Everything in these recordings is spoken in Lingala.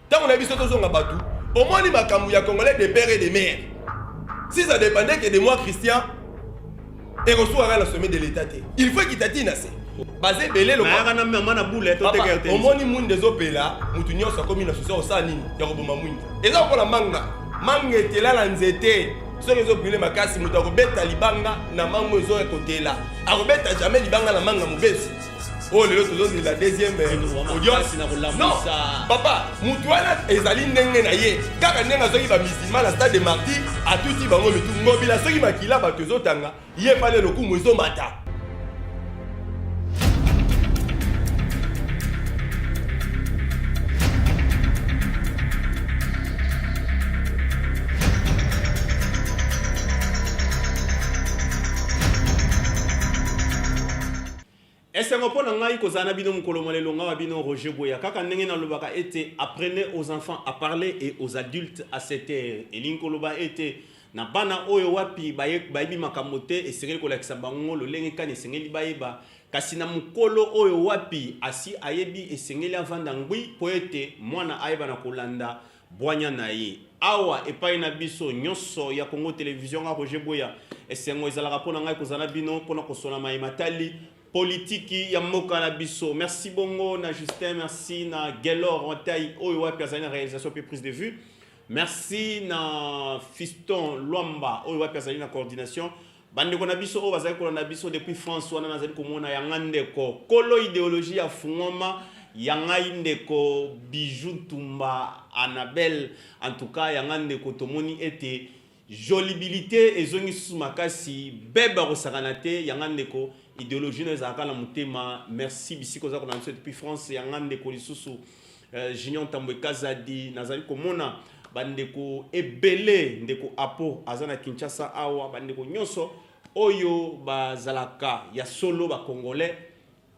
Tango na biso tozonga batu, omoni makambo ya congolais de père et de mère. Si ça dépendait que de moi Christian, ekosuka kaka na sommet de l'état te. Il faut ekitati na se. Baza ebele lokola na mama na boule to teka yo te. Omoni mwinda ezopela, mutu nyonso akomi na susi osala nini ya koboma mwinda. Eza lokola manga, manga etela na nzete soki ezobrile makasi moto akobeta libanga na mango ezo ekotela akobeta jamai libanga na manga mobesi oyo lelo tozozela deuxième euh, audience non papa motu wana ezali ndenge na ye kaka ndenge azwaki bamisilma na stade de marti atuti bango mitu ngobila soki makila bato ezotanga ye pale lokumu ezomata Esengo mpo na ngai kozala na bino mokolo mwa lelo. Nga wa bino Roger Bueya. Kaka ndenge nalobaka ete apprenez aux enfants à parler et aux adultes à se taire, elingi koloba ete na bana oyo wapi baye, bayebi makambo te, esengeli kolakisa bango lolenge kani esengeli bayeba, kasi na mokolo oyo wapi asi ayebi, esengeli avanda ngwi mpo ete mwana ayeba na kolanda Bwanya na ye. Awa epai na biso nyonso ya Congo Television, nga Roger Bueya, esengo ezalaka mpo na ngai kozala na bino mpo na kosona maye matali politiki ya mboka na biso. Merci bongo na Justin, merci na Gelor Wantai oyo wapi azali na realisation mpe prise de vue. Merci na Fiston Luamba oyo wapi azali na coordination. Bandeko na biso oyo bazali kolanda biso depuis France wana nazali komona ya nga ndeko kolo ideologie ya fungoma ya ngai ndeko Bijou Ntumba Annabelle en tout cas ya nga ndeko tomoni ete jolibilité ezongi susu makasi bebe akosakana te ya nga ndeko ideologie nayo ezalaka na motema merci bisika oza kolanda biso depuis France ya nga ndeko lisusu Euh, Junior Tambwe Kazadi, nazali komona bandeko ebele ndeko apo aza na kinshasa awa bandeko nyonso oyo bazalaka ya solo bacongolais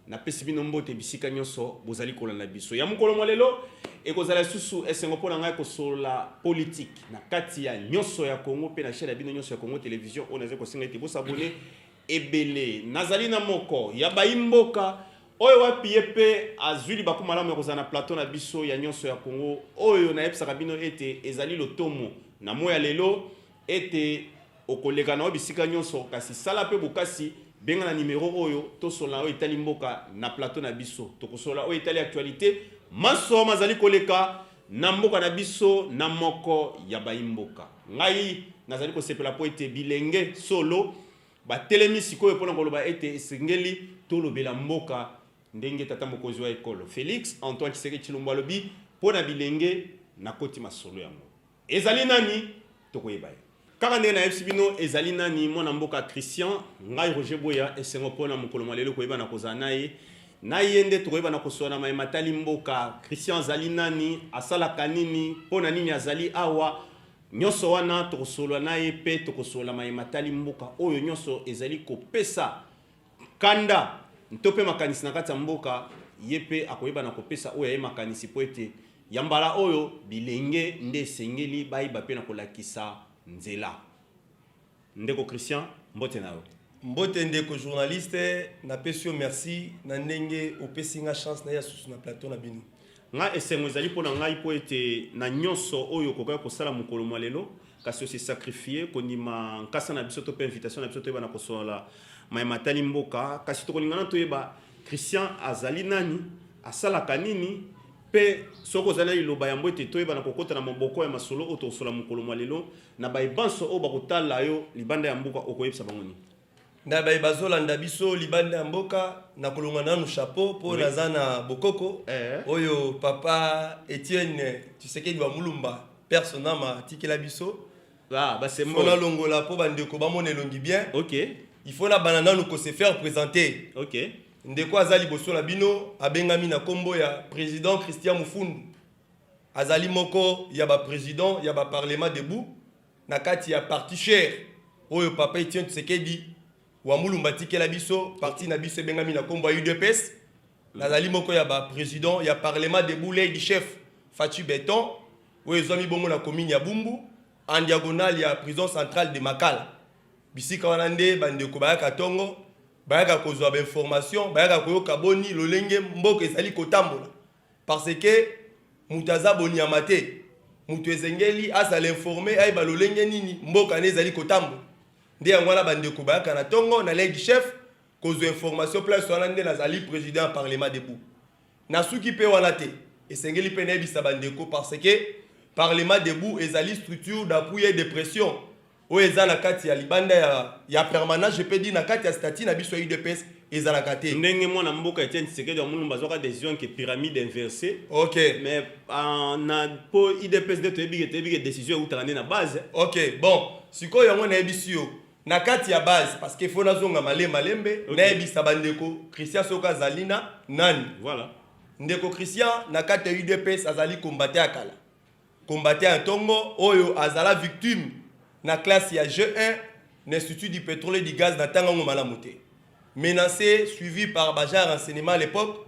napesi bino mbote bisika nyonso bozali kolanda biso ya mokolo mwa lelo ekozala lisusu esengo mpo na ngai kosolola politike na kati ya nyonso ya congo mpe na chaine ya bino nyonso ya congo television oyo nazali kosenga ete bosabone ebele. Nazali na moko ya bayi mboka oyo wapi ye pe azui libaku malamu ya kozala na plateau na biso ya Nionso ya Congo oyo nayebisaka bino ete ezali lotomo na moi ya lelo ete okoleka na yo bisika nionso kasi sala pe bokasi benga na numero oyo tosolola na yo etali mboka na plateau na biso tokosolola oyo etali actualite manso mazali koleka Na mboka na biso, na moko ya baimboka, ngai nazali kosepela mpo ete bilenge solo batelemi sikoyo mpo na koloba ete esengeli tolobela mboka ndenge tata mokonzi wa ekolo Felix Antoine Tshisekedi Tshilombo alobi mpo na bilenge. Nakoti masolo yango ezali nani? toko yeba ye kaka ndenge nayebisi bino ezali nani mwana mboka christian ngai roger boya esengo mpo na mokolo mwa lelo koyebana kozala na ye na ye nde tokoyebana kosoana maye matali mboka christian azali nani asalaka nini mpo na nini azali awa nyonso wana tokosolola na ye mpe tokosolola maye matali mboka oyo nyonso ezali kopesa nkanda to mpe makanisi na kati ya mboka, ye mpe akoyeba na kopesa oyo ya ye makanisi mpo ete ya mbala oyo bilenge nde esengeli bayeba mpe na kolakisa nzela. Ndeko Christian, mbote na yo. Mbote ndeko journaliste, napesi yo merci na ndenge opesi nga chance na ya susu na plateau na bino. Nga esengo ezali mpo na ngai mpo ete na nyonso oyo okokaki kosala mokolo mwa lelo kasi ose sacrifie kondima nkasa na biso to mpe invitation na biso toyeba na kosolola maye matali mboka kasi tokolingana toyeba Christian azali nani asalaka nini mpe soki ozali na liloba yango ete toyeba na kokota na moboko ya masolo oyo tokosola mokolo mwa lelo na baye banso oyo bakotala yo libanda ya mboka okoyebisa bango nini na baye bazolanda biso libanda ya mboka na kolonga nanu chapeau mpo oui. naza na bokoko eh. oyo papa etienne tshisekedi wa mulumba personama atikela biso ah, fo nalongola mpo bandeko bamona elongi bien okay. il faut nabanda nanu kose faire présenter okay. ndeko aza liboso na bino abengami na nkombo ya président christian mufundu azali moko ya baprésident ya baparlement debout na kati ya parti cher oyo papa Etienne Tshisekedi wa Mulumba atikela biso parti na biso ebengami na kombo ya UDPS nazali moko ya ba president ya parlement de boulay du chef Fatshi Beton oyo ezwami bongo na commune ya Bumbu en diagonale ya prison centrale de Makala bisika wana nde bandeko bayaka tongo bayaka kozwa ba information bayaka koyoka boni lolenge mboka ezali kotambola Parce que moto aza bonyama te. Moto ezengeli azala informe, ayeba lolenge nini mboka ne ezali kotambola. Nde yango wana bandeko bayaka na ntongo na lei du chef kozwa information place wana nde nazali président ya parlement debout. Nasuki mpe wana te, esengeli mpe nayebisa bandeko parce que parlement debout ezali structure d'appui et de pression Oyo eza na kati ya libanda ya, ya permanence, je peux dire na kati ya statut na biso ya UDPS ezalaka te. ndenge mwana mboka Etienne Tshisekedi wa Mulumba azwaka decision ke pyramide inverse Ok, mais ah, na po IDPS nde toyebi ke toyebi ke decision eutaka nde na base ok, bon, sikoyo yango nayebisi yo na kati ya base parce que faut nazonga male malembe Ok. nayebisa bandeko Christian soki azali na nani. voilà Ndeko Christian na kati ya UDPS azali combattant ya kala. Combattant ya tongo oyo azala victime na classe ya jeu 1 na Institut du petrole et du gaz na tanga ngo malamu te. Menace suivi par ba agents ya renseignement à l'epoque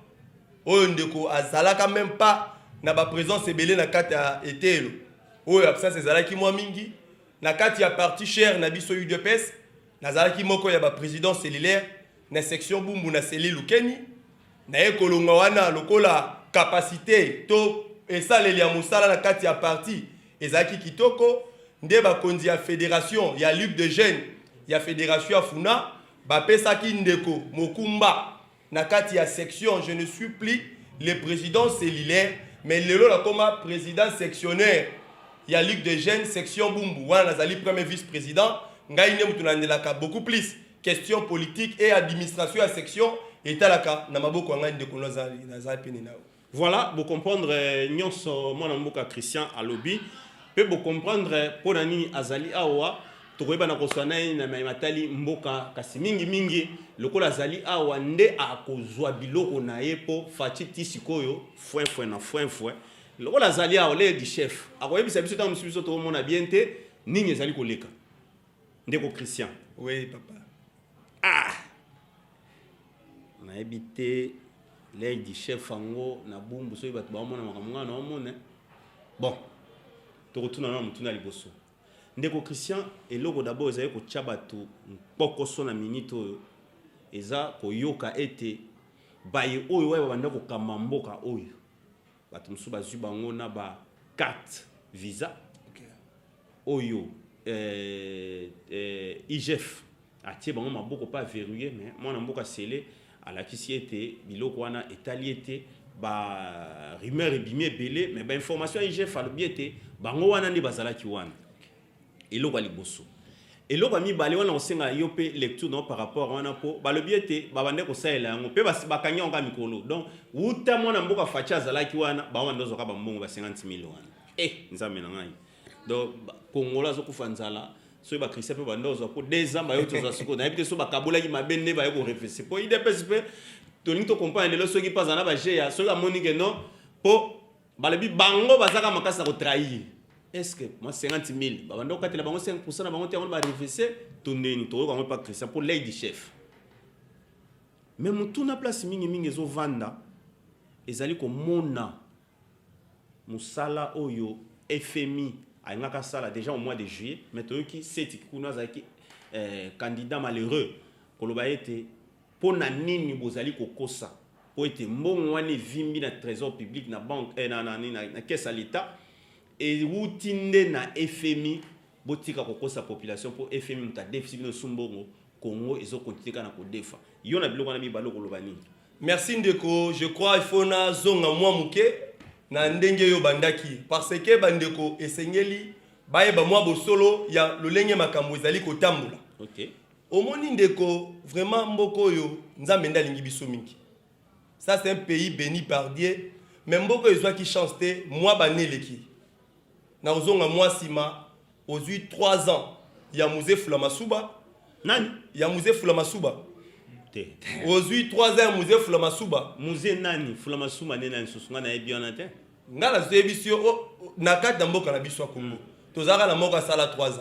oyo ndeko azalaka meme pas na ba presence ebele na kati ya eteyelo oyo absence ezalaki mwa mingi na kati ya parti cher na biso udps Nazalaki moko ya ba presidents cellulaires na section Bumbu na Seli Lukeni. Naye kolongwa wana lokola capacité to esaleli ya mosala na kati ya parti ezalaki kitoko, nde bakonzi ya federation ya Ligue de jeunes ya federation ya Funa bapesaki ndeko Mokumba na kati ya section je ne suis plus le président cellulaire mais lelo nakoma président sectionnaire ya ligue de jeunes section bumbu wana nazali premier vice président ngai nde moto nalandelaka beaucoup plus question politique et administration ya section etalaka na maboko ya ngai ndeko nazali pene na yo Voilà, bo comprendre nyonso mwana mboka Christian alobi pe bo comprendre pona nini azali awa tokoyebana koswa na ye na mai matali mboka kasi mingi mingi lokola azali awa nde akozwa biloko na ye mpo faci ti sikoyo fwenfwe na fwenfwe lokola azali awa leye di chef akoyebisa biso ntango mosusu biso tokomona bien te nini ezali koleka ndeko christian oui papa ah nayebi te lei du chef yango na bumbu soki bato baomona makambo ngai naomona eh. bon tokotuna na motuna ya liboso ndeko christian eloko dabord ezali kotya bato mpokoso na minite oyo eza koyoka ete baye oyo waye babanda kokamba mboka oyo bato mosusu bazwi bango na ba carte visa okay. oyo eh, eh, igf atie bango maboko mpe averrouille mais mwana mboka sele alakisi ete biloko wana etali ete ba rumeur ebimi ebele mais bainformation ya igf alobi ete bango wana nde bazalaki wana Eloko ya liboso. Eloko ya mibale wana kosenga yo pe lecture na yo par rapport wana po balobi ete babande kosalela yango pe bakangi yango kaka mikolo donc wuta mwana mboka Fatshi azalaki wana bango banda ozwaka bambongo ba 50 mille wana eh nzambe na ngai donc kongola azokufa nzala soki bakristian mpe banda ozwa mpo deux ans bayo tozwa sikoyo nayebi te so bakabolaki mabe nde baye korefese mpo idps mpe tolingi tokomprane lelo soki mpe aza na baje ya soki amoni ke non mpo balobi bango baza kaka makasi na kotrahir eske mwa 50 000 babanda kokatela bango 5 pourcent na bango te yango barefese to ndeni tokoyoka yango epa christian mpo lady chef me motuna place mingimingi ezovanda ezali komona mosala oyo fmi alingaka asala déjà au mois de juillet mais toyoki seti kuna azalaki eh, candidat malheureux koloba ete Mpo na nini bozali kokosa mpo ete mbongo wana evimbi na tresor public na banque eh, na, na, na, na, na caisse ya l'etat ewuti nde na FMI botika kokosa population mpo FMI moto adefisi bino su mbongo Congo ezo continue kaka na kodefa yo na biloko wana mibale okoloba nini merci ndeko je crois il faut nazonga mwa moke na ndenge yo bandaki parce que bandeko esengeli bayeba mwa bosolo ya lolenge makambo ezali kotambola okay. Omoni ndeko vraiment mboka oyo Nzambe nde alingi biso mingi. Ça c'est un pays béni par Dieu mais mboka oyo ezwaki chance te mwa bane eleki na kozonga mwa nsima ozwi 3 ans ya muze fula masuba nani ya muze fula masuba te ozwi 3 ans ya muze fula masuba muze nani fula masuba nde nani susu ngai nayebi wana te ngai nazoyebisi yo oh, oh, na kati ya mboka na biso ya kongo hmm. tozalaka na moko asala 3 ans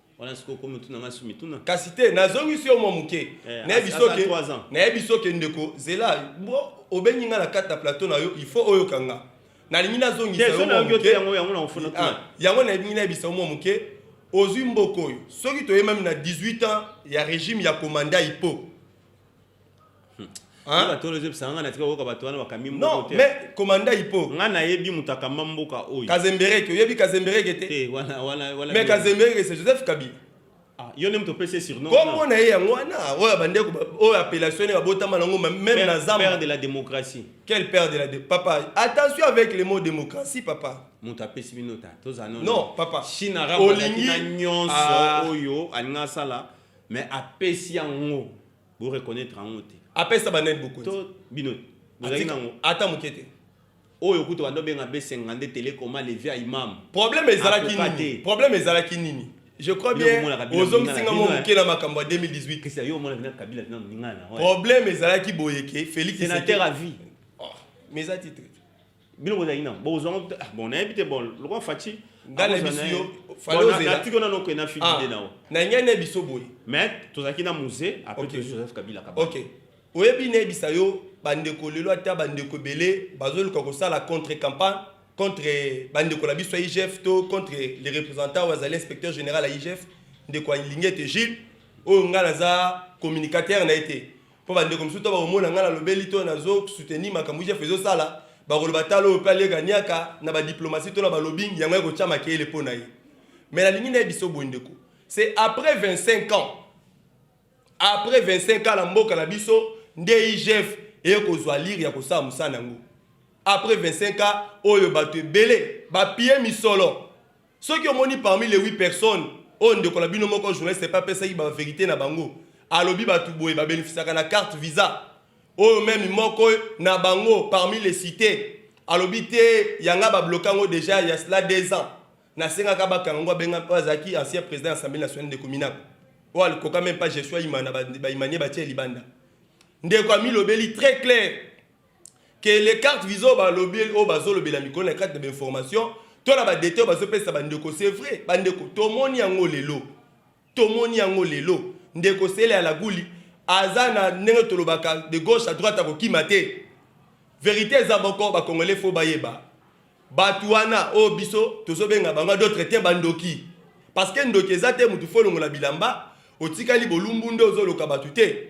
wana sikoyo okomi otuna ngai su mituna kasi te nazongisi yo mwa moke eh, nayebi soke ndeko zela obengi ngai na kati na plateau na yo il faut oyoka nga nalingi nazongisa ah, yango nalingi nayebisa yo mwa moke ozwi mboka oyo soki toyemami na 18 ans ya régime ya komanda ipo Hein? Ba tolo zep sanga na tika oyoka bato wana bakami mboka Non, te. mais commanda Hippo. Nga nayebi moto akamba mboka oyo. Kazembereke, oyebi Kazembereke te? Te, wana wana wana. Mais Kazembereke c'est Joseph Kabila. Ah, yo nde moto opesi ye surnom. Kombo na ye yango wana, oyo bandeko ba- oyo appellation ne babotama nango ma- même na Père, père zamba. de la démocratie. Quel père de la dé- papa, attention avec le mot démocratie papa. moto apesi bino ta toza nono. Non, papa. chine arabe Olingi- azalaki na nyonso Ah. oyo alingi asala mais apesi yango bo reconnaître yango te apesa banani bokonzi to bino bozali nango ata moke te oyo kutu bando benga besenga nde telekoma levia imam problème ezalaki nini problème ezalaki nini je crois bien ozongisi nga mwa moke na makambo ya 2018 problème ezalaki boyeke félix sénateur à vie oh, mais eza titre bino bozalaki nango bokozwa yango ah, bon nayebi te bon lokwa faci ngalebisiyoatiki ona noke na fidide ah, nao nayingi ane biso boye mais tozalaki na musée apres tozwi joseph kabila kaba ok oyebi nayebisa yo bandeko lelo ata bandeko ebele bazoluka kosala contre campagne contre bandeko na biso ya igf to contre le représentant oyo azali inspecteur général ya igf ndeko alingi ete gilles oyo ngai naza communicateur na ye te Mpo bandeko mosusu to bakomona ngai nalobeli to nazo soutenir makambo IGF ezosala, bakoloba tala oyo mpe alieka niaka na ba diplomatie to na ba lobbying, yango ekotia makeyele mpo na ye. Mais nalingi nayebisa yo boye ndeko, c'est après 25 ans, après 25 ans na mboka na biso nde IGF eye kozwa lire ya kosala mosala na yango. Après 25 ans oyo bato ebele bapie misolo. Soki omoni parmi les huit personnes oyo ndeko na bino moko journaliste pe apesaki ba verite na bango alobi batu boye ba benefisaka na carte visa oyo meme moko na bango parmi les cite alobi te ya nga ba bloka ngo deja ya cela deux ans na sengaka ba kanga ngo abenga oyo azalaki ancien president ya assemblee nationale ndeko minaku oyo alikoka meme pas Jesua Imana ba Imanie batie libanda ndeko amilobeli très claire que les cartes visées oyo balobi oyo bazolobela mikolo na kati na bainformation to na badete oyo bazopesa bandeko c'est vrai bandeko tomoni yango lelo tomoni yango lelo ndeko sele ya laguli aza na ndenge tolobaka de gauche à droite akokima te verité eza boko bakongole fo bayeba bato wana oyo biso tozobenga bango d'autre te bandoki parce que ndoki eza te motu fo olongola bilamba otikali bolumbu nde ozoloka bato te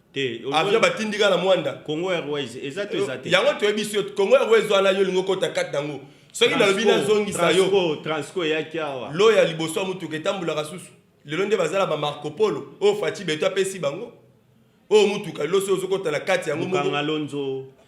avion batindi kaka na mwanda congo airways eza to eza te yango toyebi biso congo airways wana yo olingi okota kati nango soki nalobi nazongisa yo transco eyaki awa lo ya liboso ya motuka etambolaka susu lelo nde bazala ba marco polo oyo faci beto apesi bango oyo motuka lelo soki ozokota na kati yango mokanga lonzo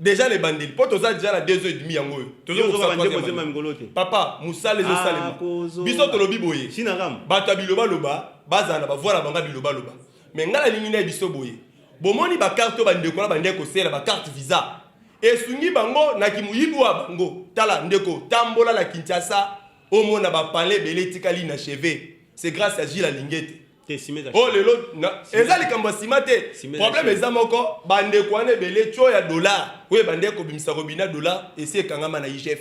deja na ebandeli mpo toza deja na 2 heures et demi yango oyo tozobandekolote papa mosala ezosalema ah, biso tolobi boye bato ya bilobaloba bazala na bavoi na banga bilobaloba me ngai nalingi naye biso boye bomoni bakarte oyo bandeko na bandeki kosela bakarte visa esungi bango na kimoyibi wa bango tala ndeko tambola na kinshasa omona bapale ebele etikali na cheve c'est grâce ya gile alingete oyo oh, lelo eza likambo ya nsima te problème eza moko bandeko wana ebele tio ya dollar oyo ebandeki kobimisa robina dollar esi ekangama na igf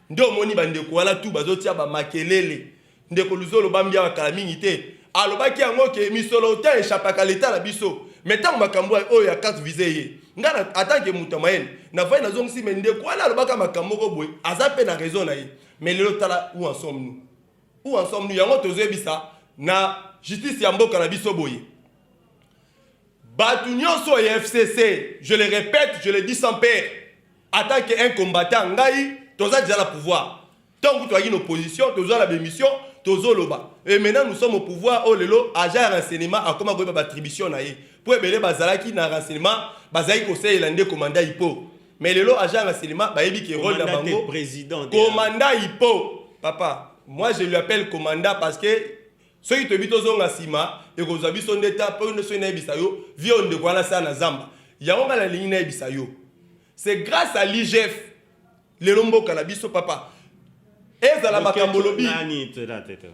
nde omoni bandeko wana tu bazotia bamakelele ndeko luzolo bambiaka kala mingi te alobaki yango ke misolo te echapaka leta na biso me ntango makambo oyo ya carte vise ye ngai atanke moto ya mayele navai nazongisi me ndeko wana alobaka makambo moko boye aza mpe na raison na ye me lelo tala ou ensemble nous Où en sommes-nous? Yango tozoyebisa na justice ya mboka na biso boye bato nyonso ya fcc je le répète je le dis sans père atant que un combattant ngai toza deja na pouvoir ntango kutu ayaki na opposition toza na bémission tozoloba e maintenant nous sommes au pouvoir oyo oh lelo agent ya renseignement akoma koyeba batribution na ye mpo ebele bazalaki na renseignement bazalaki kosalela nde komanda ipo mais lelo agent ya silima bayebi ke role na bango komanda ipo papa moi je lui appelle komanda parce que soki toyebi tozonga nsima ekozwa biso nde ta mpo soki nayebisa yo vie oyo ndeko wana sala na zamba yango ngai nalingi nayebisa yo c'est grâce à l'igf lelo mboka na biso papa ezala makambo olobi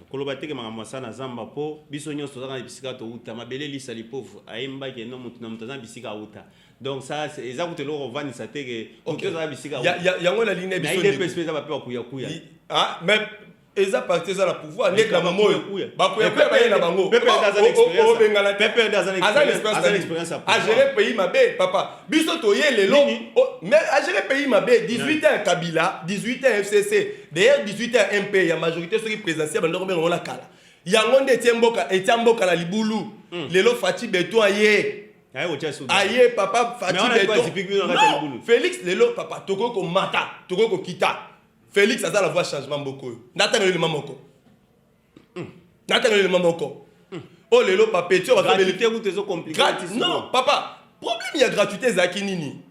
koloba teke makambo asala na zamba mpo biso nyonso tozaka na bisika touta mabele lisali pauvre ayembaki eno moto na moto aza na bisika auta donc ça eza kutu eloko kovandisa te ke moto ezala bisika yango na line bisoidps mpe eza bape bakuyakuya ah, mais eza parti eza na pouvoir ndeti na mama oyo bakuyakuya baye na bango obengana te aza na expérience agere pays mabe papa biso toye lelo mais agere pays mabe 18 ans kabila 18 ans fcc d'ailleurs 18 ans mp ya majorité soki présidentielle bandoko benga ngona kala yango nde etie mboka etia mboka na libulu hmm. lelo faci beton ye aye papa Felix lelo papa tokoki komata tokoki kokita Felix aza la voix changement mboko oyo natanga elema moko hmm. natanga elema moko hmm. oyo oh, lelo papeti oyo non papa problème ya gratuité ezalaki nini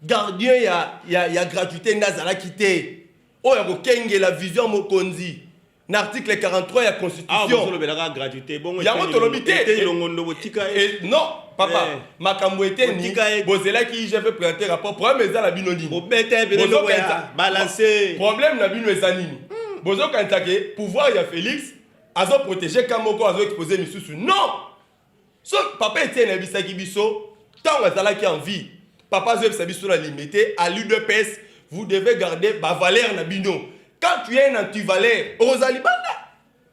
gardien ya, ya, ya gratuité nde azalaki te oyo oh, ya kokengela vision mokonzi na article 43 ya constitutionyango tolobi te eh, eh, non papa eh. makambo eteni bozelaki igf présente rapport problème eza na bino niniproblème na bino eza nini hmm. bozokanisa ke pouvoir ya félix azoprotege ka moko azoexpose misusu non so papa etienne ayebisaki biso ntango azalaki en vie papa azoyebisa biso na limete à l'udps vous devez garder bavaleur na bino quand tu es un antivaleur okozala libanda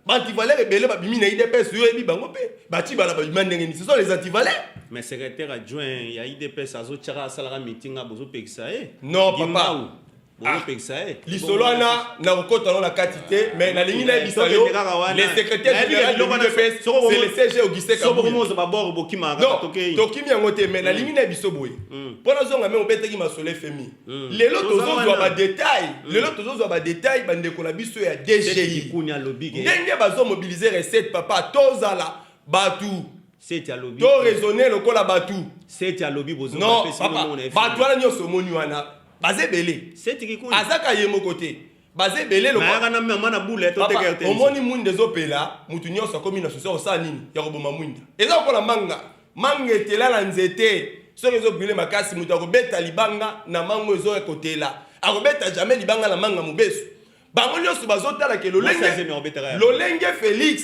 baantivaleur ebele babimi na idps yo oyebi bango mpe batibala babima ndenge nini ce sont les antivaleur mais secrétaire adjoint ya idps azotyaka asalaka mitinga bozopekisa ye non papa Ah, lisolo wana na kokota yango na kati te mais nalingi nayebisa yo le secrétaire général de l'udps c'est le cg auguste kabutokimi yango te mais nalingi na biso boye mpo nazonga me obetaki masolo fmi lelo tozozwa badetail lelo tozozwa badetail bandeko na biso ya dgi ndenge bazomobilize recette papa tozala bato seti alobi to raisonner lokola batu seti alobi bozo non papa batu wana nyoso moni wana baza ebele seti kikuni azaka ye moko te baza ebele lokolayaka na mama na bule totekaka te omoni mwinda ezopela motu nyonso akomi na susi akosala nini ya koboma mwinda eza lokola manga manga etela na nzete soki ezobrile makasi moto akobeta libanga na mango ezoya kotela akobeta jamai libanga na manga mobesu bango nyonso bazotalaka lolenge lolenge félix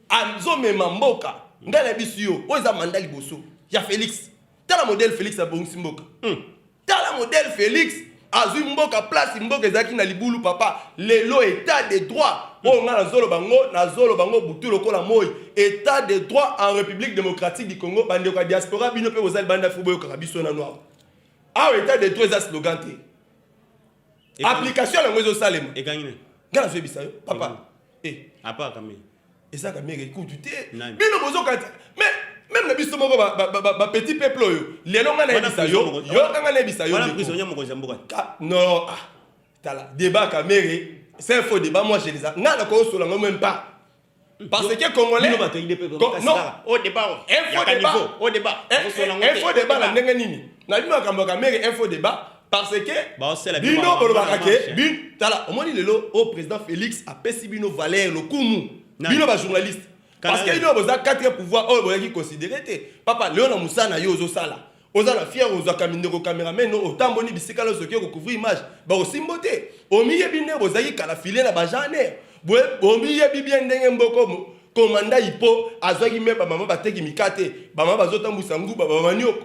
azomema mboka ngai na biso yo oyo eza manda liboso ya félix tala modele félix abongisi mboka hmm. Tala modèle Felix azwi mboka place mboka ezalaki na libulu papa lelo etat de droit oyo ngai nazoloba ngo nazoloba ngo butu lokola moi etat de droit en république démocratique du congo bandeko ya diaspora bino mpe boza libanda fo boyokaka biso nano awa awa etat de droit eza slogan te application yango ezosalema ngai nazoyebisa yo papa eh. apaka mei eza kamere ekutu te bino bozokati mais meme na biso moko bapetit peuple oyo lelo ngai nayebisa yo yo ngai nayebisa yo non ah, tala débat kamere c'est un faux débat moi je les a ngai nakoyosola ngo même pas parce que congolais non au débat info débat au débat info débat na ndenge nini na bino makambo ya kamere info débat parce que bino bolobaka ke tala omoni lelo oyo président félix apesi bino valeur lokumu bino bajournaliste parce que bino boza quatre pouvoir oyo boyaki considere te papa leo na mosala na yo ozosala oza na fiere ozwaka mindeko cameraman no otamboli bisika nyonso oke kocouvrir image bakosimbo te omiyebi nde bozalaki kala file na bagenre omiyebi bien ndenge mboko komanda ipo azwaki me bamama bateki mikate bamama bazotambwisa nguba bamama nyoko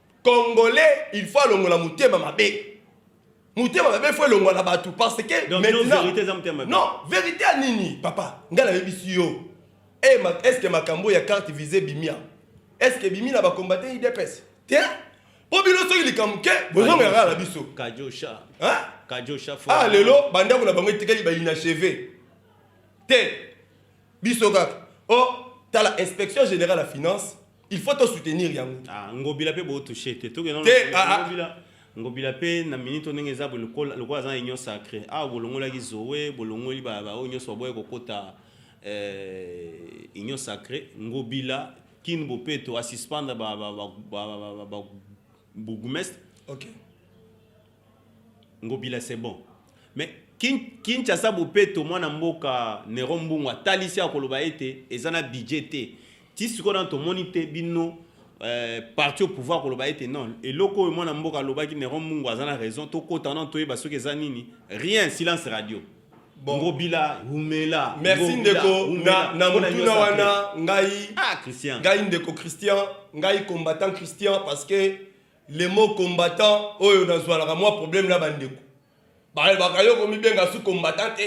Congolais il faut alongola motema mabe. Motema mabe il faut elongwa na bato parce que Donc, non, maintenant verite eza motema mabe. non verite ya nini papa ngai nayebisi yo Eh, ma- est ce que makambo ya carte vise bimia est ce que bimi na bakombate idps te mpo bino soki likambo ke bozongela kaka na biso Kajosha. Hein? Kajosha fo. ah lelo bandako na bango etikali bainacheve te biso kaka o tala inspection générale ya finance il faut to soutenir yango ah ngobila pe bo toucher te toke non te ah, ah. ngobila ngobila pe na minute ndenge eza lokola lokola za union sacrée ah bolongolaki Zoé bolongoli ba ba union so boye kokota euh union sacrée ngobila kin bopeto a suspendre ba ba ba, ba, ba, ba, ba bourgmestre okay Ngobila c'est bon. Mais Kinshasa Bopeto mwana mboka Nero Mbungu atalisi akoloba ete eza na budget te. Ti sikoyo nanu tomoni te bino euh, parti au pouvoir koloba ete non eloko oyo mwana mboka alobaki Nero Mbungu aza na raison tokota nanu toyeba soki eza nini rien silence radio bon. ngobila humela merci ndeko na, na motuna wana ngai ah, christian. ngai ndeko christian ngai combattant christian parce que Le mot combattant oyo nazwalaka mwa problème na bandeko balobaka yo komibenga su combattant te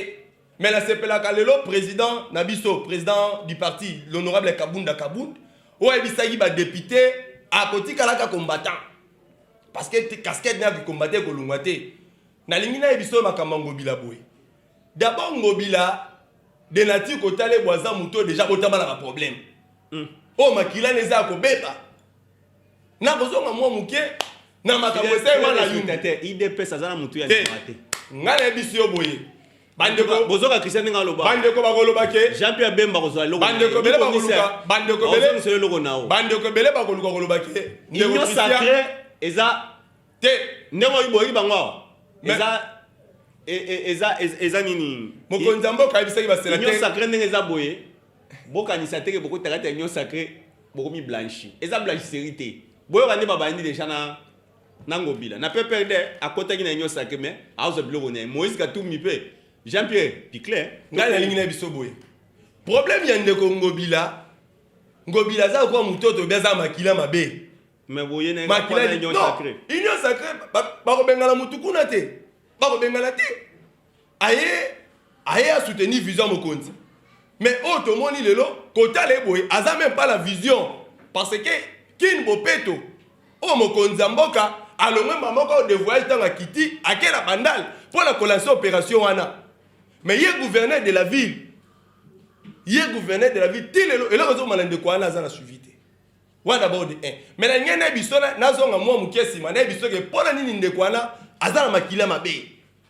mais nasepelaka lelo président na biso président du parti l'honorable kabunda kabund oyo ayebisaki badepute akotikalaka combattant parce que casquette na ya kikombate ekolongwa te nalingi nayebisa oyo makambo ya ngobila boye dabord ngobila de nature kotala ebwaza moto oyo deja botama na baproblème oyo hmm. oh, makila na eza ya kobeba nakozonga mwa moke na makambo esalema na yumbu te idps aza na motu ya ndima te ngai nayebisi yo boye bandeko bozoka christian ndenge aloba bandeko bakoloba ke jean pierre bemba kozwa eloko bandeko bele bakoluka bandeko bele ozongisa eloko na yo bandeko bele bakoluka koloba ke union sacrée eza te ndenge oyo boyebi bango awa eza e, e, eza eza nini mokonzi ya mboka ayebisaki basela union sacrée ndenge eza boye bokanisa te ke bokota kati ya union sacree bokomi blanchi eza blanchisserie te boyoka nde babandi deja na na ngobila na pprd akotaki na union sacree mais azwa biloko na ye moïse katumbi mpe jean pierre picler ngai nalingi na biso boye problème ya ndeko ngobila ngobila aza kokuwa mototo obi aza makila mabe mais boye na makila union sacree union sacree bakobengana motu kuna te bakobengana te aye aye a soutenir vision mokonzi mais oyo tomoni lelo kotala ye boye aza meme pas la vision parce que kin bopeto oyo mokonzi ya mboka alongwe mba moko de voyage ntango akiti akela bandal mpo na kolanse opération wana mais ye gouverneur de la ville ye gouverneur de la ville ti lelo eloko ezokoma na ndeko wana aza na suivi te wana dabord de 1 mais na ngai na biso nazonga mwa moke nsima na ye biso ke mpo na nini ndeko wana aza na makila mabe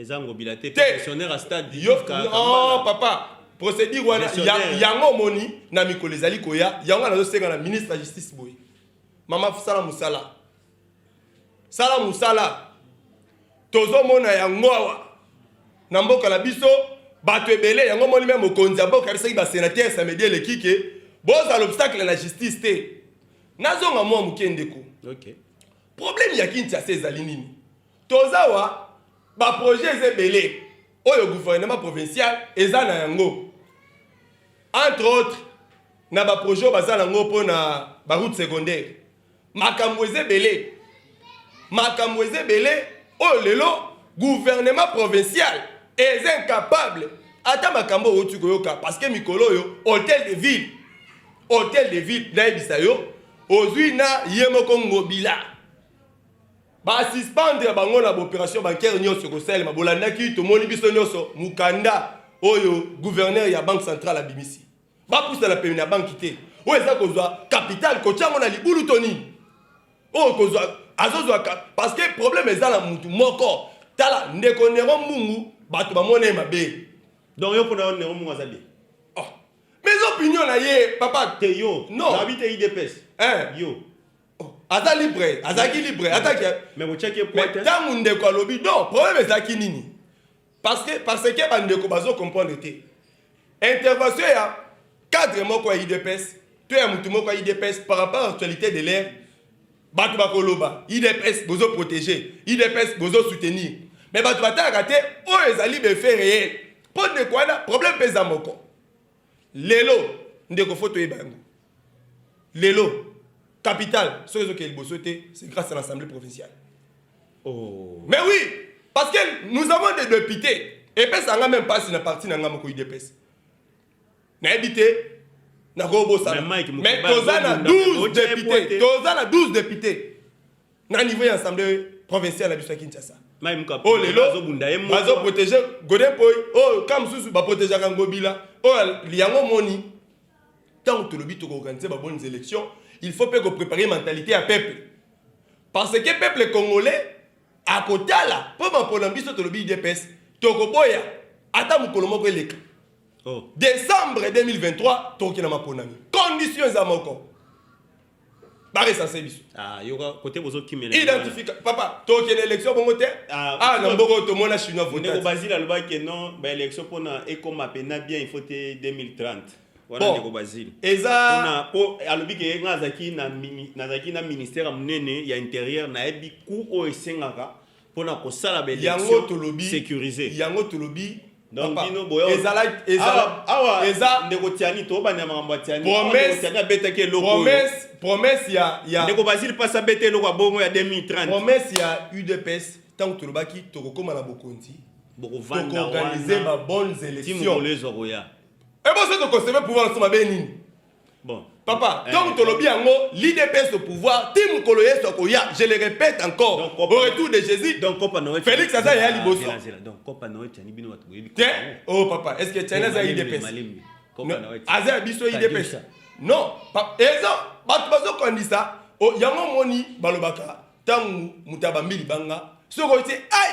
eza ngobila te pensionnaire ya stade yo oh, papa procédure wana yango omoni na mikolo ezali koya yango nazosenga na ministre ya justice boye mama sala mosala sala mosala tozomona yango awa na mboka na biso bato ebele yango omoni me mokonzi ya mboka arisaki basenateur samedi eleki ke bozala obstacle na justice te nazonga mwa moke ndeko okay. problème ya kinshasa ezali nini Toza wa ba projet eza ebele oyo gouvernement provincial eza na yango entre autres na ba projet oyo baza nango mpo na ba route secondaire makambo eza ebele makambo eza ebele oyo lelo gouvernement provincial eza incapable ata makambo owuti koyoka parce que mikolo oyo hotel de ville hotel de ville nayebisa yo ozwi na ye moko ngobila Ba suspendre bango na operation bancaire nionso ekosalema. Bolandaki, tomoni biso nionso mukanda oyo gouverneur ya banque centrale abimisi. Bapusa na pene na banki te. Oyo eza kozwa capital kotya yango na libulu to nini? Oyo kozwa azozwa parce que problème eza na mutu moko. Tala ndeko Nero Mbungu bato bamona ye mabe. Donc yo pona Nero Mbungu aza bien? Oh. Mais opinion na ye papa te yo. Non. Nabi te IDPS. Hein? Yo. Oh, aza libre azalaki libre ataki ntango ndeko alobi do problème ezalaki nini parce que parce que bandeko bazo comprendre te intervention ya cadre moko ya idps to ya motu moko ya idps par rapport à actualité de l'air bato bakoloba idps bozo protege idps bozo soutenir mais bato batalaka te oyo ezali befe reel mpo ndeko wana problème mpe eza moko lelo ndeko fo toyeba yango lelo capital soki ezokende liboso te c'est grâce à l'assemblée provinciale oh. mais oui parce que nous avons des députés epesa nga meme mpasi na parti na nga moko udps nayebi te nakobosana mais toza na 12 député toza na 12 député na niveau ya assemblée provinciale na biso ya kinshasa oyo lelo bazoprotege godepoi oyo ka mosusu baprotegeaka ngobila oyo yango moni ntango tolobi tokoorganize babonnes élections il faut mpe koprepare mentalite ya peuple parce que peuple congolais akotala mpo mapona biso tolobi idps tokoboya ata mokolo moko eleka oh. décembre 2023 tokokenda maponami condition eza moko ba recenser biso ah yoka kote bozo kimela identifika papa to kele election bongo te ah, ah na mboko to mona chinois vote ndeko bazila loba ke non ba election pona ekoma pe na bien il faut te 2030 wana ndeko bazili eza pona po alobi ke nga azaki na nazaki na ministère ya munene ya intérieur nayebi ku oyo esengaka pona kosala ba election securise yango tolobi donc bino boya ezala ezala awa eza ndeko tiani to banda makambo ya tiani promesse tiani abetaki eloko promesse promesse ya ya ndeko basile pasa bete eloko ya bongo ya 2030 promesse ya udps tango tolobaki tokokoma na bokonzi bokovanda wana ba bonnes élections timolezo koya eboso tokoseve pouvoir na soma be nini Bon. Papa, eh, donc tolobi yango l'IDPS au pouvoir, ti mukolo yesu akoya, je le répète encore. Donc, au retour de Jésus. Donc Copa Noël. Félix aza ya liboso. Donc Copa Noël tiani bino watu boyebi. Te. Oh papa, est-ce que tiani aza IDPS? Copa Noël. Aza biso IDPS. Non, papa, ezo batu bazo kondisa. Oh, yango moni balobaka tangu mutabambili banga. Soko ti ai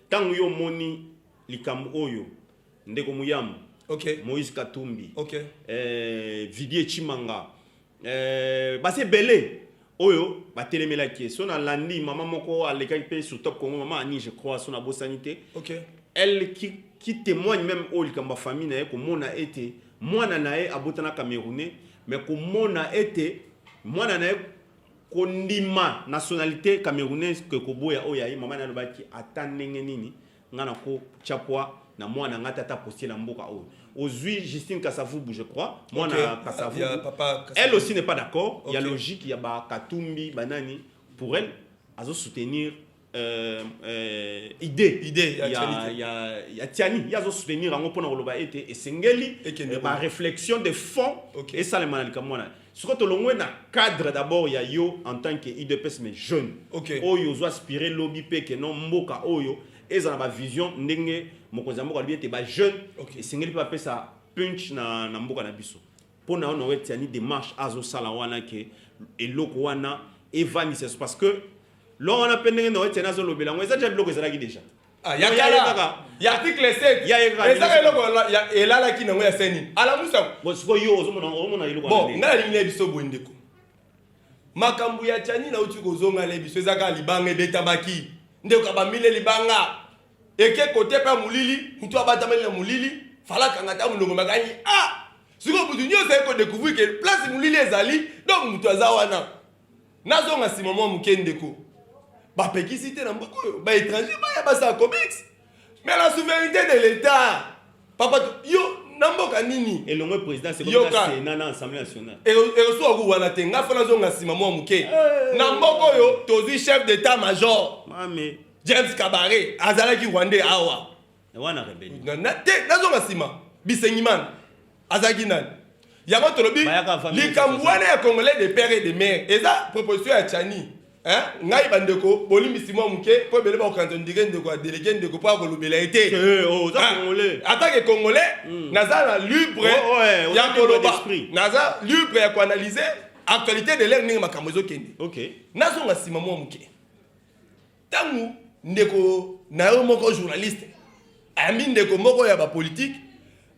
Tango yo omoni likambo oyo ndeko Muyambo, okay. Moïse Katumbi, okay. eh, Vidier Chimanga, eh, basi ebele oyo batelemelaki ye so nalandi mama moko alekaki mpe sur top congo mama ani je crois so nabosani te okay. elle qui, qui témoigne même oyo likambo ya famille na ye komona ete mwana na ye abotana camerounais mais komona ete mwana na ye kondima nationalite camerounaise ke koboya oyo aye mama nalobaki ata ndenge nini nga na ko chapwa na mwana nga tata postela mboka oyo ozui Justine Kasavubu je crois mwana okay. Kasavubu yeah, papa Kasavubu. elle aussi n'est pas d'accord okay. ya logique ya ba Katumbi banani pour elle azo soutenir Euh, euh, idée, idée ya, ya, ya, ya tiani ye azosoutenir yango mpo na koloba ete esengeli euh, baréflexion de fond okay. esalema na likambo wana soki tolongwe na cadre d'abord ya yo en tant que udps mais jeune okay. oyo ozo aspire lobi mpe ke no mboka oyo ezala bavision ndenge mokonzi ya mboka alobi ete bajeune okay. esengeli mpe bapesa punch na, na mboka na biso Mpo na yo na wetiani demarche azosala wana ke eloko wana evandisa so parce que longo wana mpe ndenge na wetiani azolobela yango eza deja biloko ezalaki deja ah, ya kala ya article 7 ezaka eloko elalaki nango ya seni alamusa sikoyo yo ozomona eloko bon ngai nalingi na biso boye ndeko makambo ya tiani nauti kozonga na biso ezaka libanga ebetamaki ndeko abamile libanga eke kote mpe ya molili motu abatameli na molili fala akanga ata molongo makangi a ah! sikoyo motu nyonso aye kodecouvrir ke place molili ezali donc motu aza wana nazonga nsima mwa moke ndeko bapekisi te na mboka oyo baétranger baya basala comics mais la souveraineté de l'état papa yo na mboka nini elongo présidence Sénat na assemblée nationale erosuwa ku wana te ngai fo nazonga nsima mwa moke eh. na mboka oyo tozwi chef d'état major James Kabare azalaki Rwandais awa. Na wana rebellion. Na, na te nazonga sima. Bisengimana azalaki nani? Yango tolobi likambo wana ya Congolais de père et de mère eza proposition ya Chani. Hein? ngai bandeko bolimbisi mwa moke mpo ebele bakokanisa ndike ndeko ya delege ndeko mpo akolobela ye te eh, oh, atake congolais hmm. naza na libre oh, oh, eh, ya koloba naza libre ya koanalyse actualité de l'air ndenge makambo ezokende nazonga nsima mwa moke ntango ndeko na yo moko journaliste ayambi ndeko moko ya bapolitike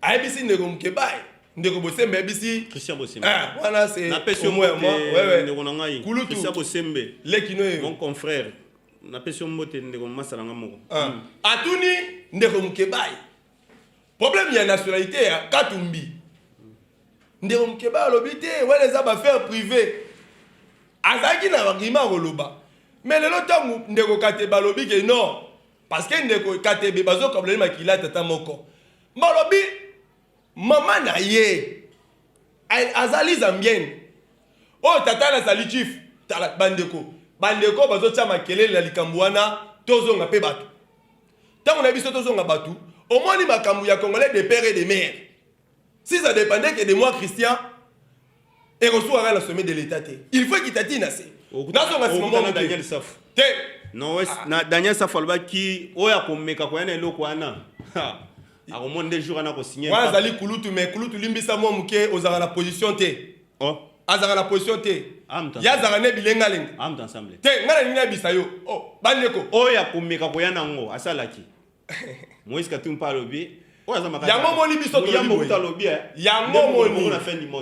ayebisi ndeko mokebaye ndeko bosembe ayebisi christian bosembe ah, wana se napesi yo mbote ndeko na ngai christian bosembe lekino ye mon confrère napesi yo mbote ndeko masala nga moko ah. hmm. atuni ndeko mokebaye Problème ya nationalité ya Katumbi. Ndeko Mukeba alobi te wana eza ba affaire privée. Azalaki na argument koloba. Mais lelo tango ndeko Kateba alobi ke non parce que ndeko Katebe bazokabola ye makila tata moko. Balobi mama na ye azali zambienne oyo oh, tata nazali chief tala bandeko bandeko bazotya makelele na likambo wana tozonga mpe bato ntango na biso tozonga bato omoni makambo ya congolais de père et de mère si ça dépendait que de moi christian ekosuaka na sommet de l'état te il faut ekitati na se nazonga nsima mwa daniel safu te non wes ah. na daniel safu alobaki oyo akomeka koya na eloko wana akomona nde jour wana akosigne wana azali kulutu mais kulutu limbisa mwa moke ozalaka na position te oh. azalaka na position te ye azalaka ne bilengalenga te ngai nalingi nayebisa yo oh, bandeko oyo oh, ya komeka koya nango asalaki moïse katumbi mpe alobi yango omoni biso eh.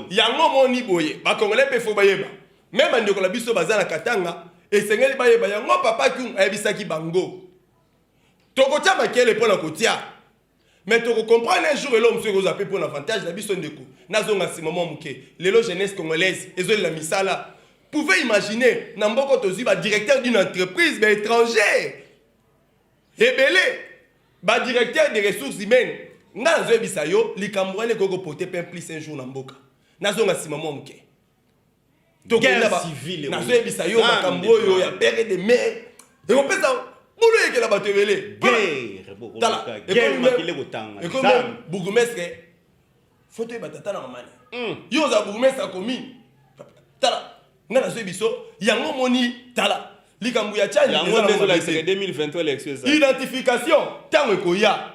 yango omoni boye bakongole mpe fo bayeba me bandeko na biso baza na katanga esengeli bayeba yango papa tung ayebisaki bango tokotya makele mpo na kotya mais toko comprendre un jour eloko mosusu ekozwa mpe mpo na avantage na biso ndeko nazonga nsima mwa moke lelo jeunesse congolaise ezolela misala pouvez imaginer na mboko tozwi badirecteur d'une entreprise baétranger ebele badirecteur des ressources humaines ngai nazoyebisa yo likambo wana ekoki kopote mpe plus un jour na mboka nazonga nsima mwa moke nazoyebisa yo makambo oyo ya pere de mer ekopesa bulu eyekela bato ebele bourgmestre foto oyeba tata na mamani hmm. yo oza bourgmestre ya commune tala ngai nazwi biso yango omoni tala likambo ya chani identification ntango ekoya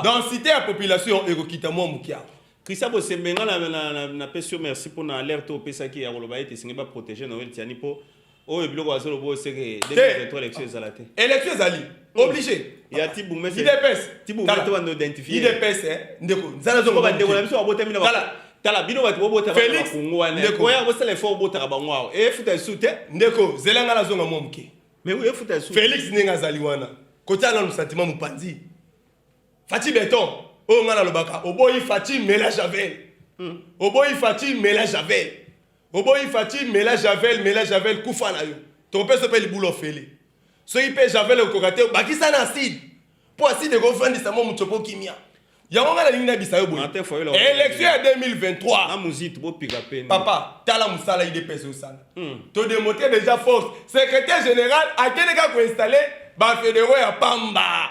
densité ya population ekokita mwa mokia Christian Bosembe nga na, na, na, na pesi yo merci mpo na alerte oyo opesaki ya koloba ete esengeli baprotege Noel Tiani mpo oyo biloko azoloba oyo seke 2023 election ezala te election ezali hmm. oblige ya tibu mese idps tibu mese to bando identifier idps eh, ndeko nzala zo ba ndeko na biso abotami na kala tala bino bato bobota ba kongo wana ndeko ya bosala effort obotaka bango awo e futa su te ndeko zela ngala zonga mwa moke mais oui e futa su Felix ndenge azali wana kotala na sentiment mopanzi Fatih Beton, oyo nga nalobaka, oboyi Fatih mela Javel. Hmm. Oboyi Fatih mela Javel. Oboyi Fatih mela Javel, mela Javel kufa na yo. Tokopesa pe libulu ofele. Soki pe Javel okoka te, bakisa na acide. Po acide ekofandisa mo moto po kimia. yango ngai nalingi nayebisa yo boye élection ya 2023 papa tala mosala idps osala hmm. todemote déjà force secrétaire général akende kaka koinstalle bafédéraux ya pamba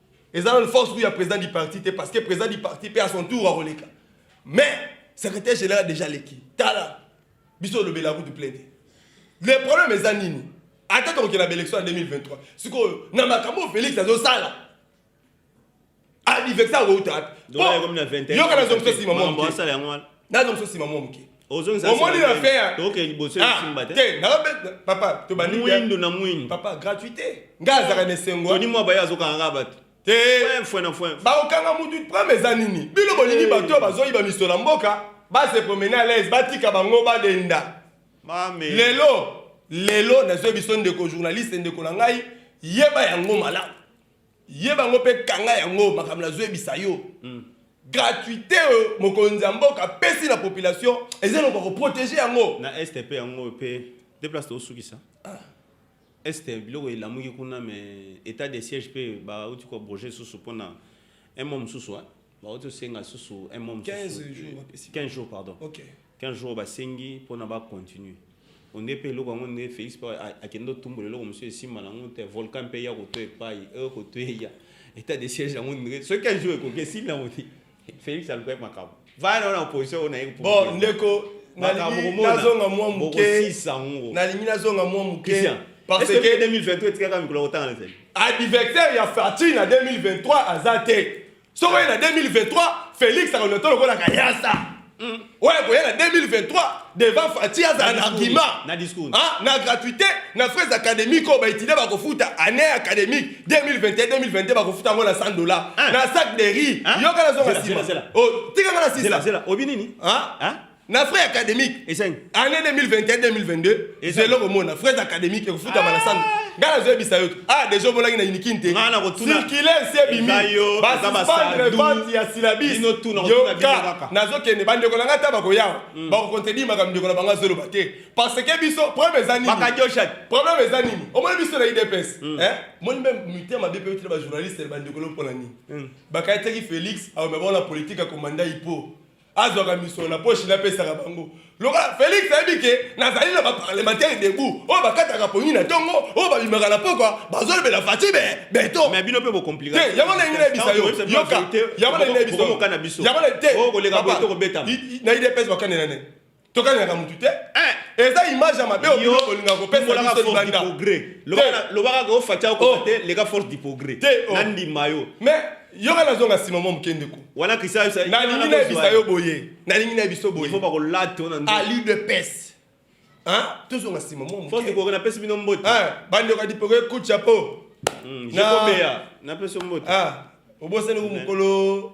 eza nanu force kuya président du parti te parce que président du parti mpe à son tour akoleka mais secrétaire général déjà leki tala biso olobela kutu plein te le problème eza nini ata tokokenda baélection ya 2023 sikoyo na makambo felix azosala adivexa akouta wapi yoka nazongisa nsima mwa moke nazongisa nsima mwa moke omoni na fin ya toke liboso ah, esimba te te naobe papa tobandi mwindo na mwindo papa gratuité nga azaka na esengo toni mwa baye azokanga nga bato te fwe na fwe bakokanga mutu prame eza nini bino bolingi bato oyo bazoyiba miso na mboka base promene à l'aise batika bango badenda lelo lelo nazoyebi biso ndeko journaliste ndeko na ngai yeba yango malamu ye bango mpe kanga yango makambo nazoyebisa yo mm. gratuité oyo euh, mokonzi ya mboka apesi na population eza eloko ya koprotege yango na este mpe yango mpe de place tosukisa ah. este biloko elamuki kuna mais état de siège mpe bauti koabroge lisusu mpona un mois mosusu bauti osenga lisusu un mois mosusu 15 jours bapesi 15 jours pardon ok 15 jours basengi mpona bacontinue onde mpe eloko yango nde félix mpe a- akende otumbola eloko mosusu esimba na yango te volcan mpe eya koto epai eyo koto eya état de siège yango nde soki 15 jours ekoki esimbi yango te félix alukaki makambo vana wana opposition oyo naye bon ndeko makambo nalingi komona nazonga mwa moke bokosisa yango nalingi nazonga mwa moke Christian, parce est-ce que que 2022 etikaka mikolo ya kotanga na zeli adversaire ya Fatih na 2023 aza te soko ye na 2023 félix akoleta lokola kayasa hmm. oyo akoya na 2023 devant fati azala na argument na ah, gratuité na fraise académique oyo baétudia bakofuta année académique 2021-2022 bakofuta yango na 100 dollars ah. na sac de riz ah. yoka nazonga nsima oh, tikanga na sisa obi nini na frais académique esengi année 2021 2022 eza eloko mona frais académique ekofutama na sando ah! ngai nazoyebisa yo ah déjà omonaki na unikin te circule nsi ebimi basuspendre vente ya silabis yoka nazokende bandeko na ngai ata bakoyawa hmm. bakocontredire makambo ndeko na bango azoloba te parce que biso problème eza nini problème eza nini omoni biso na idps hmm. eh? moni mpe mitema mabe mpe yotina bajournaliste bandeko lopona nini hmm. bakayetaki félix aomema na politique akomanda ipo azwaka misolo na poshi napesaka bango lokola felix ayebi ke nazali na baparlementaire debout oyo bakataka pongi na ntongo oyo babimaka na pokwa bazolobela fati be beto mais bino mpe bokomplika te yango nalingi nayebisa yo yoka yango nalingi nayebisa yo yango na te okoleka boye tokobetama na idps bakane na nani tokanelaka mutu te eh. eza image ya mabe olinga kopesaalobaka ko fatia okote oh. leka force du progrès oh. nandima yo mais yoka nazonga nsima mwa moke ndeko wana kristianalingi nayebisa yo boye nalingi nayebiso boyeali de pese tozonga nsima mwa napesi bino mbote bandeko adipoke kucha po hmm, napesi yo mbote ah, obosani ko mokolo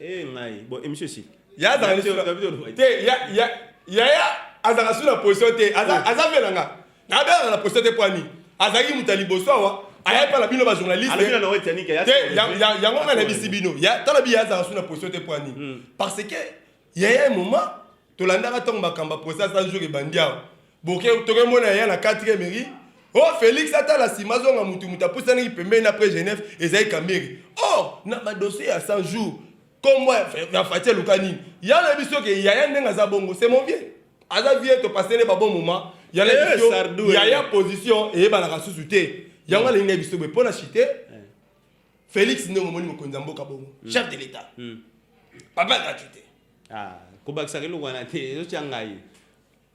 Eh ngai, bon emission si. Ya za ni sura. Te ya ya ya ya azaka sura position te. Aza aza vela nga. Na bela na position te poani. Azaki mutali bosoa ayaki mpana bino bajournaliste yango ngai na bisi bino tala bi ya azaka su na position te poani parce que yaya moment tolandaka ntango makambo ya procès un jour ebandi awa boke tokemona ya na 4 mairie o oh, félix atala nsima azonga motu moto apusanaki pembeni na près genève ezali kambiri or oh, na badossier ya 100 jours kombo ya fati eluka nini ya na biso ke yaya ndenge aza bongo c'est mon vieux aza vie topasele babon moment ya na eh, biso yaya eh. position eyebanaka susu te yango hmm. alingi na biso boye mpo na chite eh. félix ndenge omoni mokonzi ya mboka bongo hmm. chef de l'état hmm. papa gratuité Ah, kobakisaka eloko wana te ezotya ngai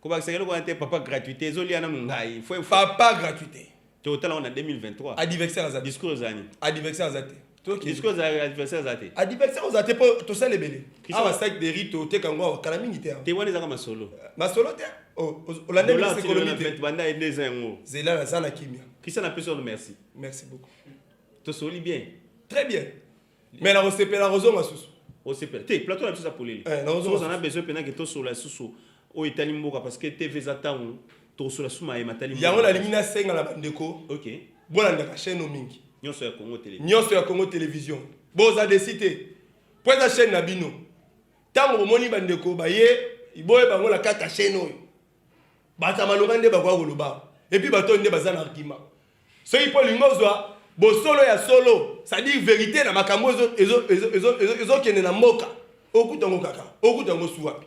kobakisaka eloko wana te papa gratuité ezolia nanu ngai fo papa gratuité totala wana 2023 adversaire aza discours ezani adversaire aza te discours adversaire aza te adversaire oza te mpo tosala ebele awa sac de rit oteka yango awa kala mingi te awa te wana ezaka masolo euh, masolo te olandeekolobanda ende eza yango zela naza na kimia christian apesi ono merci merci beaucoup tosoli bien très bien mais nakosepela kozonga susu osepela te plateau na biso eza polele eh, oza na besoin mpena ke tosola susu oyo etali mboka parce que tv eza ntango tokosola susu maye matali yango nalingi nasenga na bandeko okay. bolandaka chaîne o mingi nyonso ya congo television nyonso ya congo television boza desi te mpo eza chaîne na bino ntango bomoni bandeko baye iboye bango na kati ya chaîne oyo bato ya malonga nde bakoya koloba awa epuis bato oyo nde baza na argument soki mpo olingi ozwa bosolo ya solo cestadire verite na makambo ezokende na mboka okuta yango kaka okuta yango su wapi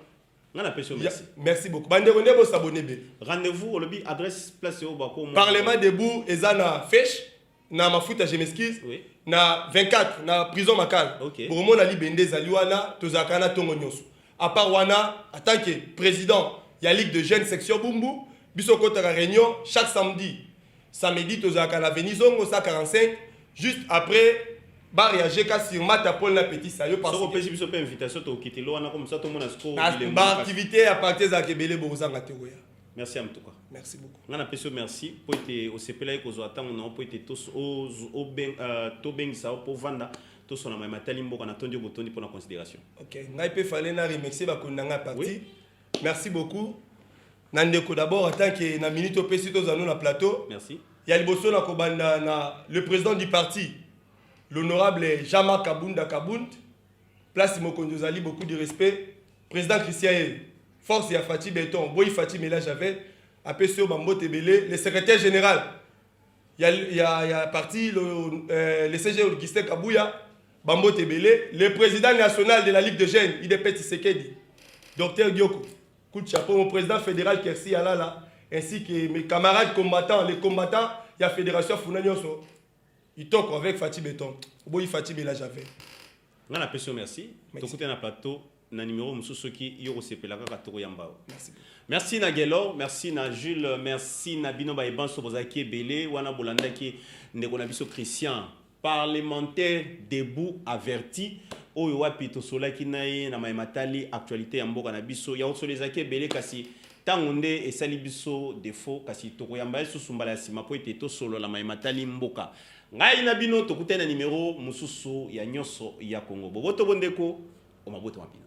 nga na peso merci merci beaucoup bandeko nde bosabone ebele rendez-vous olobi adresse place oyo bakoma parlement debout eza na feshe na mafuta je m'excuse oui. na 24 na prison makala okay. bokomona libende ezali wana tozalaka na ntongo nyonso apart wana en tant que président ya ligue de jeune section bumbu biso okotaka réunion chaque samedi samedi tozalaka na veni zongo 145 juste après bareage ka sur mata pole na petit sayo opesi biso mpe invitation tokokitelo wana komisa tomona sikoyo baaktivité ya parti ezalaka ebele bokozanga te koya merci ya motuka merci beaucoup ngai napesi yo merci mpo ete osepelaki kozwa ntango na yo mpo ete euh, tobengisa yo mpo ovanda tosona mai matali mboka natondi yo botondi mpo na considération ok ngai mpe fale na remercie bakoni na ngai ya parti merci beaucoup na ndeko d'abord en tant que na minute opesi tozwa no na plateau merci ya liboso na kobanda na le président du parti l'honorable jean-marc kabunda kabund Place mokonzi ozali beaucoup du respect president Christian ye force ya Fatshi beton boyi Fatshi mela javel apesi yo bambote ebele le secrétaire général ya, ya, ya parti le, euh, le CG Augustin Kabuya bambote ebele le président national de la Ligue de Jeunes IDP Tshisekedi docteur Dioko coup de chapeau mon président fédéral Kersi Alala ainsi que mes camarades combattants les combattants ya fédération Funa Nyoso Itoko avec Fatih Beton. Oboyi Fatih Bela Javel. Nga na peso merci. Merci. Tokute na plateau na numéro mosusu soki yo kosepela kaka tokoyamba yo. Merci. Merci na Gelor, merci na Jules, merci na bino ba ebanso bozalaki ebele wana bolandaki ndeko na biso Christian parlementaire debout averti oyo wapi tosolaki na ye na maye matali actualité ya mboka na biso ya kosolo ezalaki ebele kasi Tango nde esali biso defaut kasi tokoyamba ye susu mbala ya sima mpo ete tosolola maye matali mboka. Ngai na bino tokutani na nimero mosusu ya Nionso ya Congo. Boboto bo ndeko, o mabota ma bino.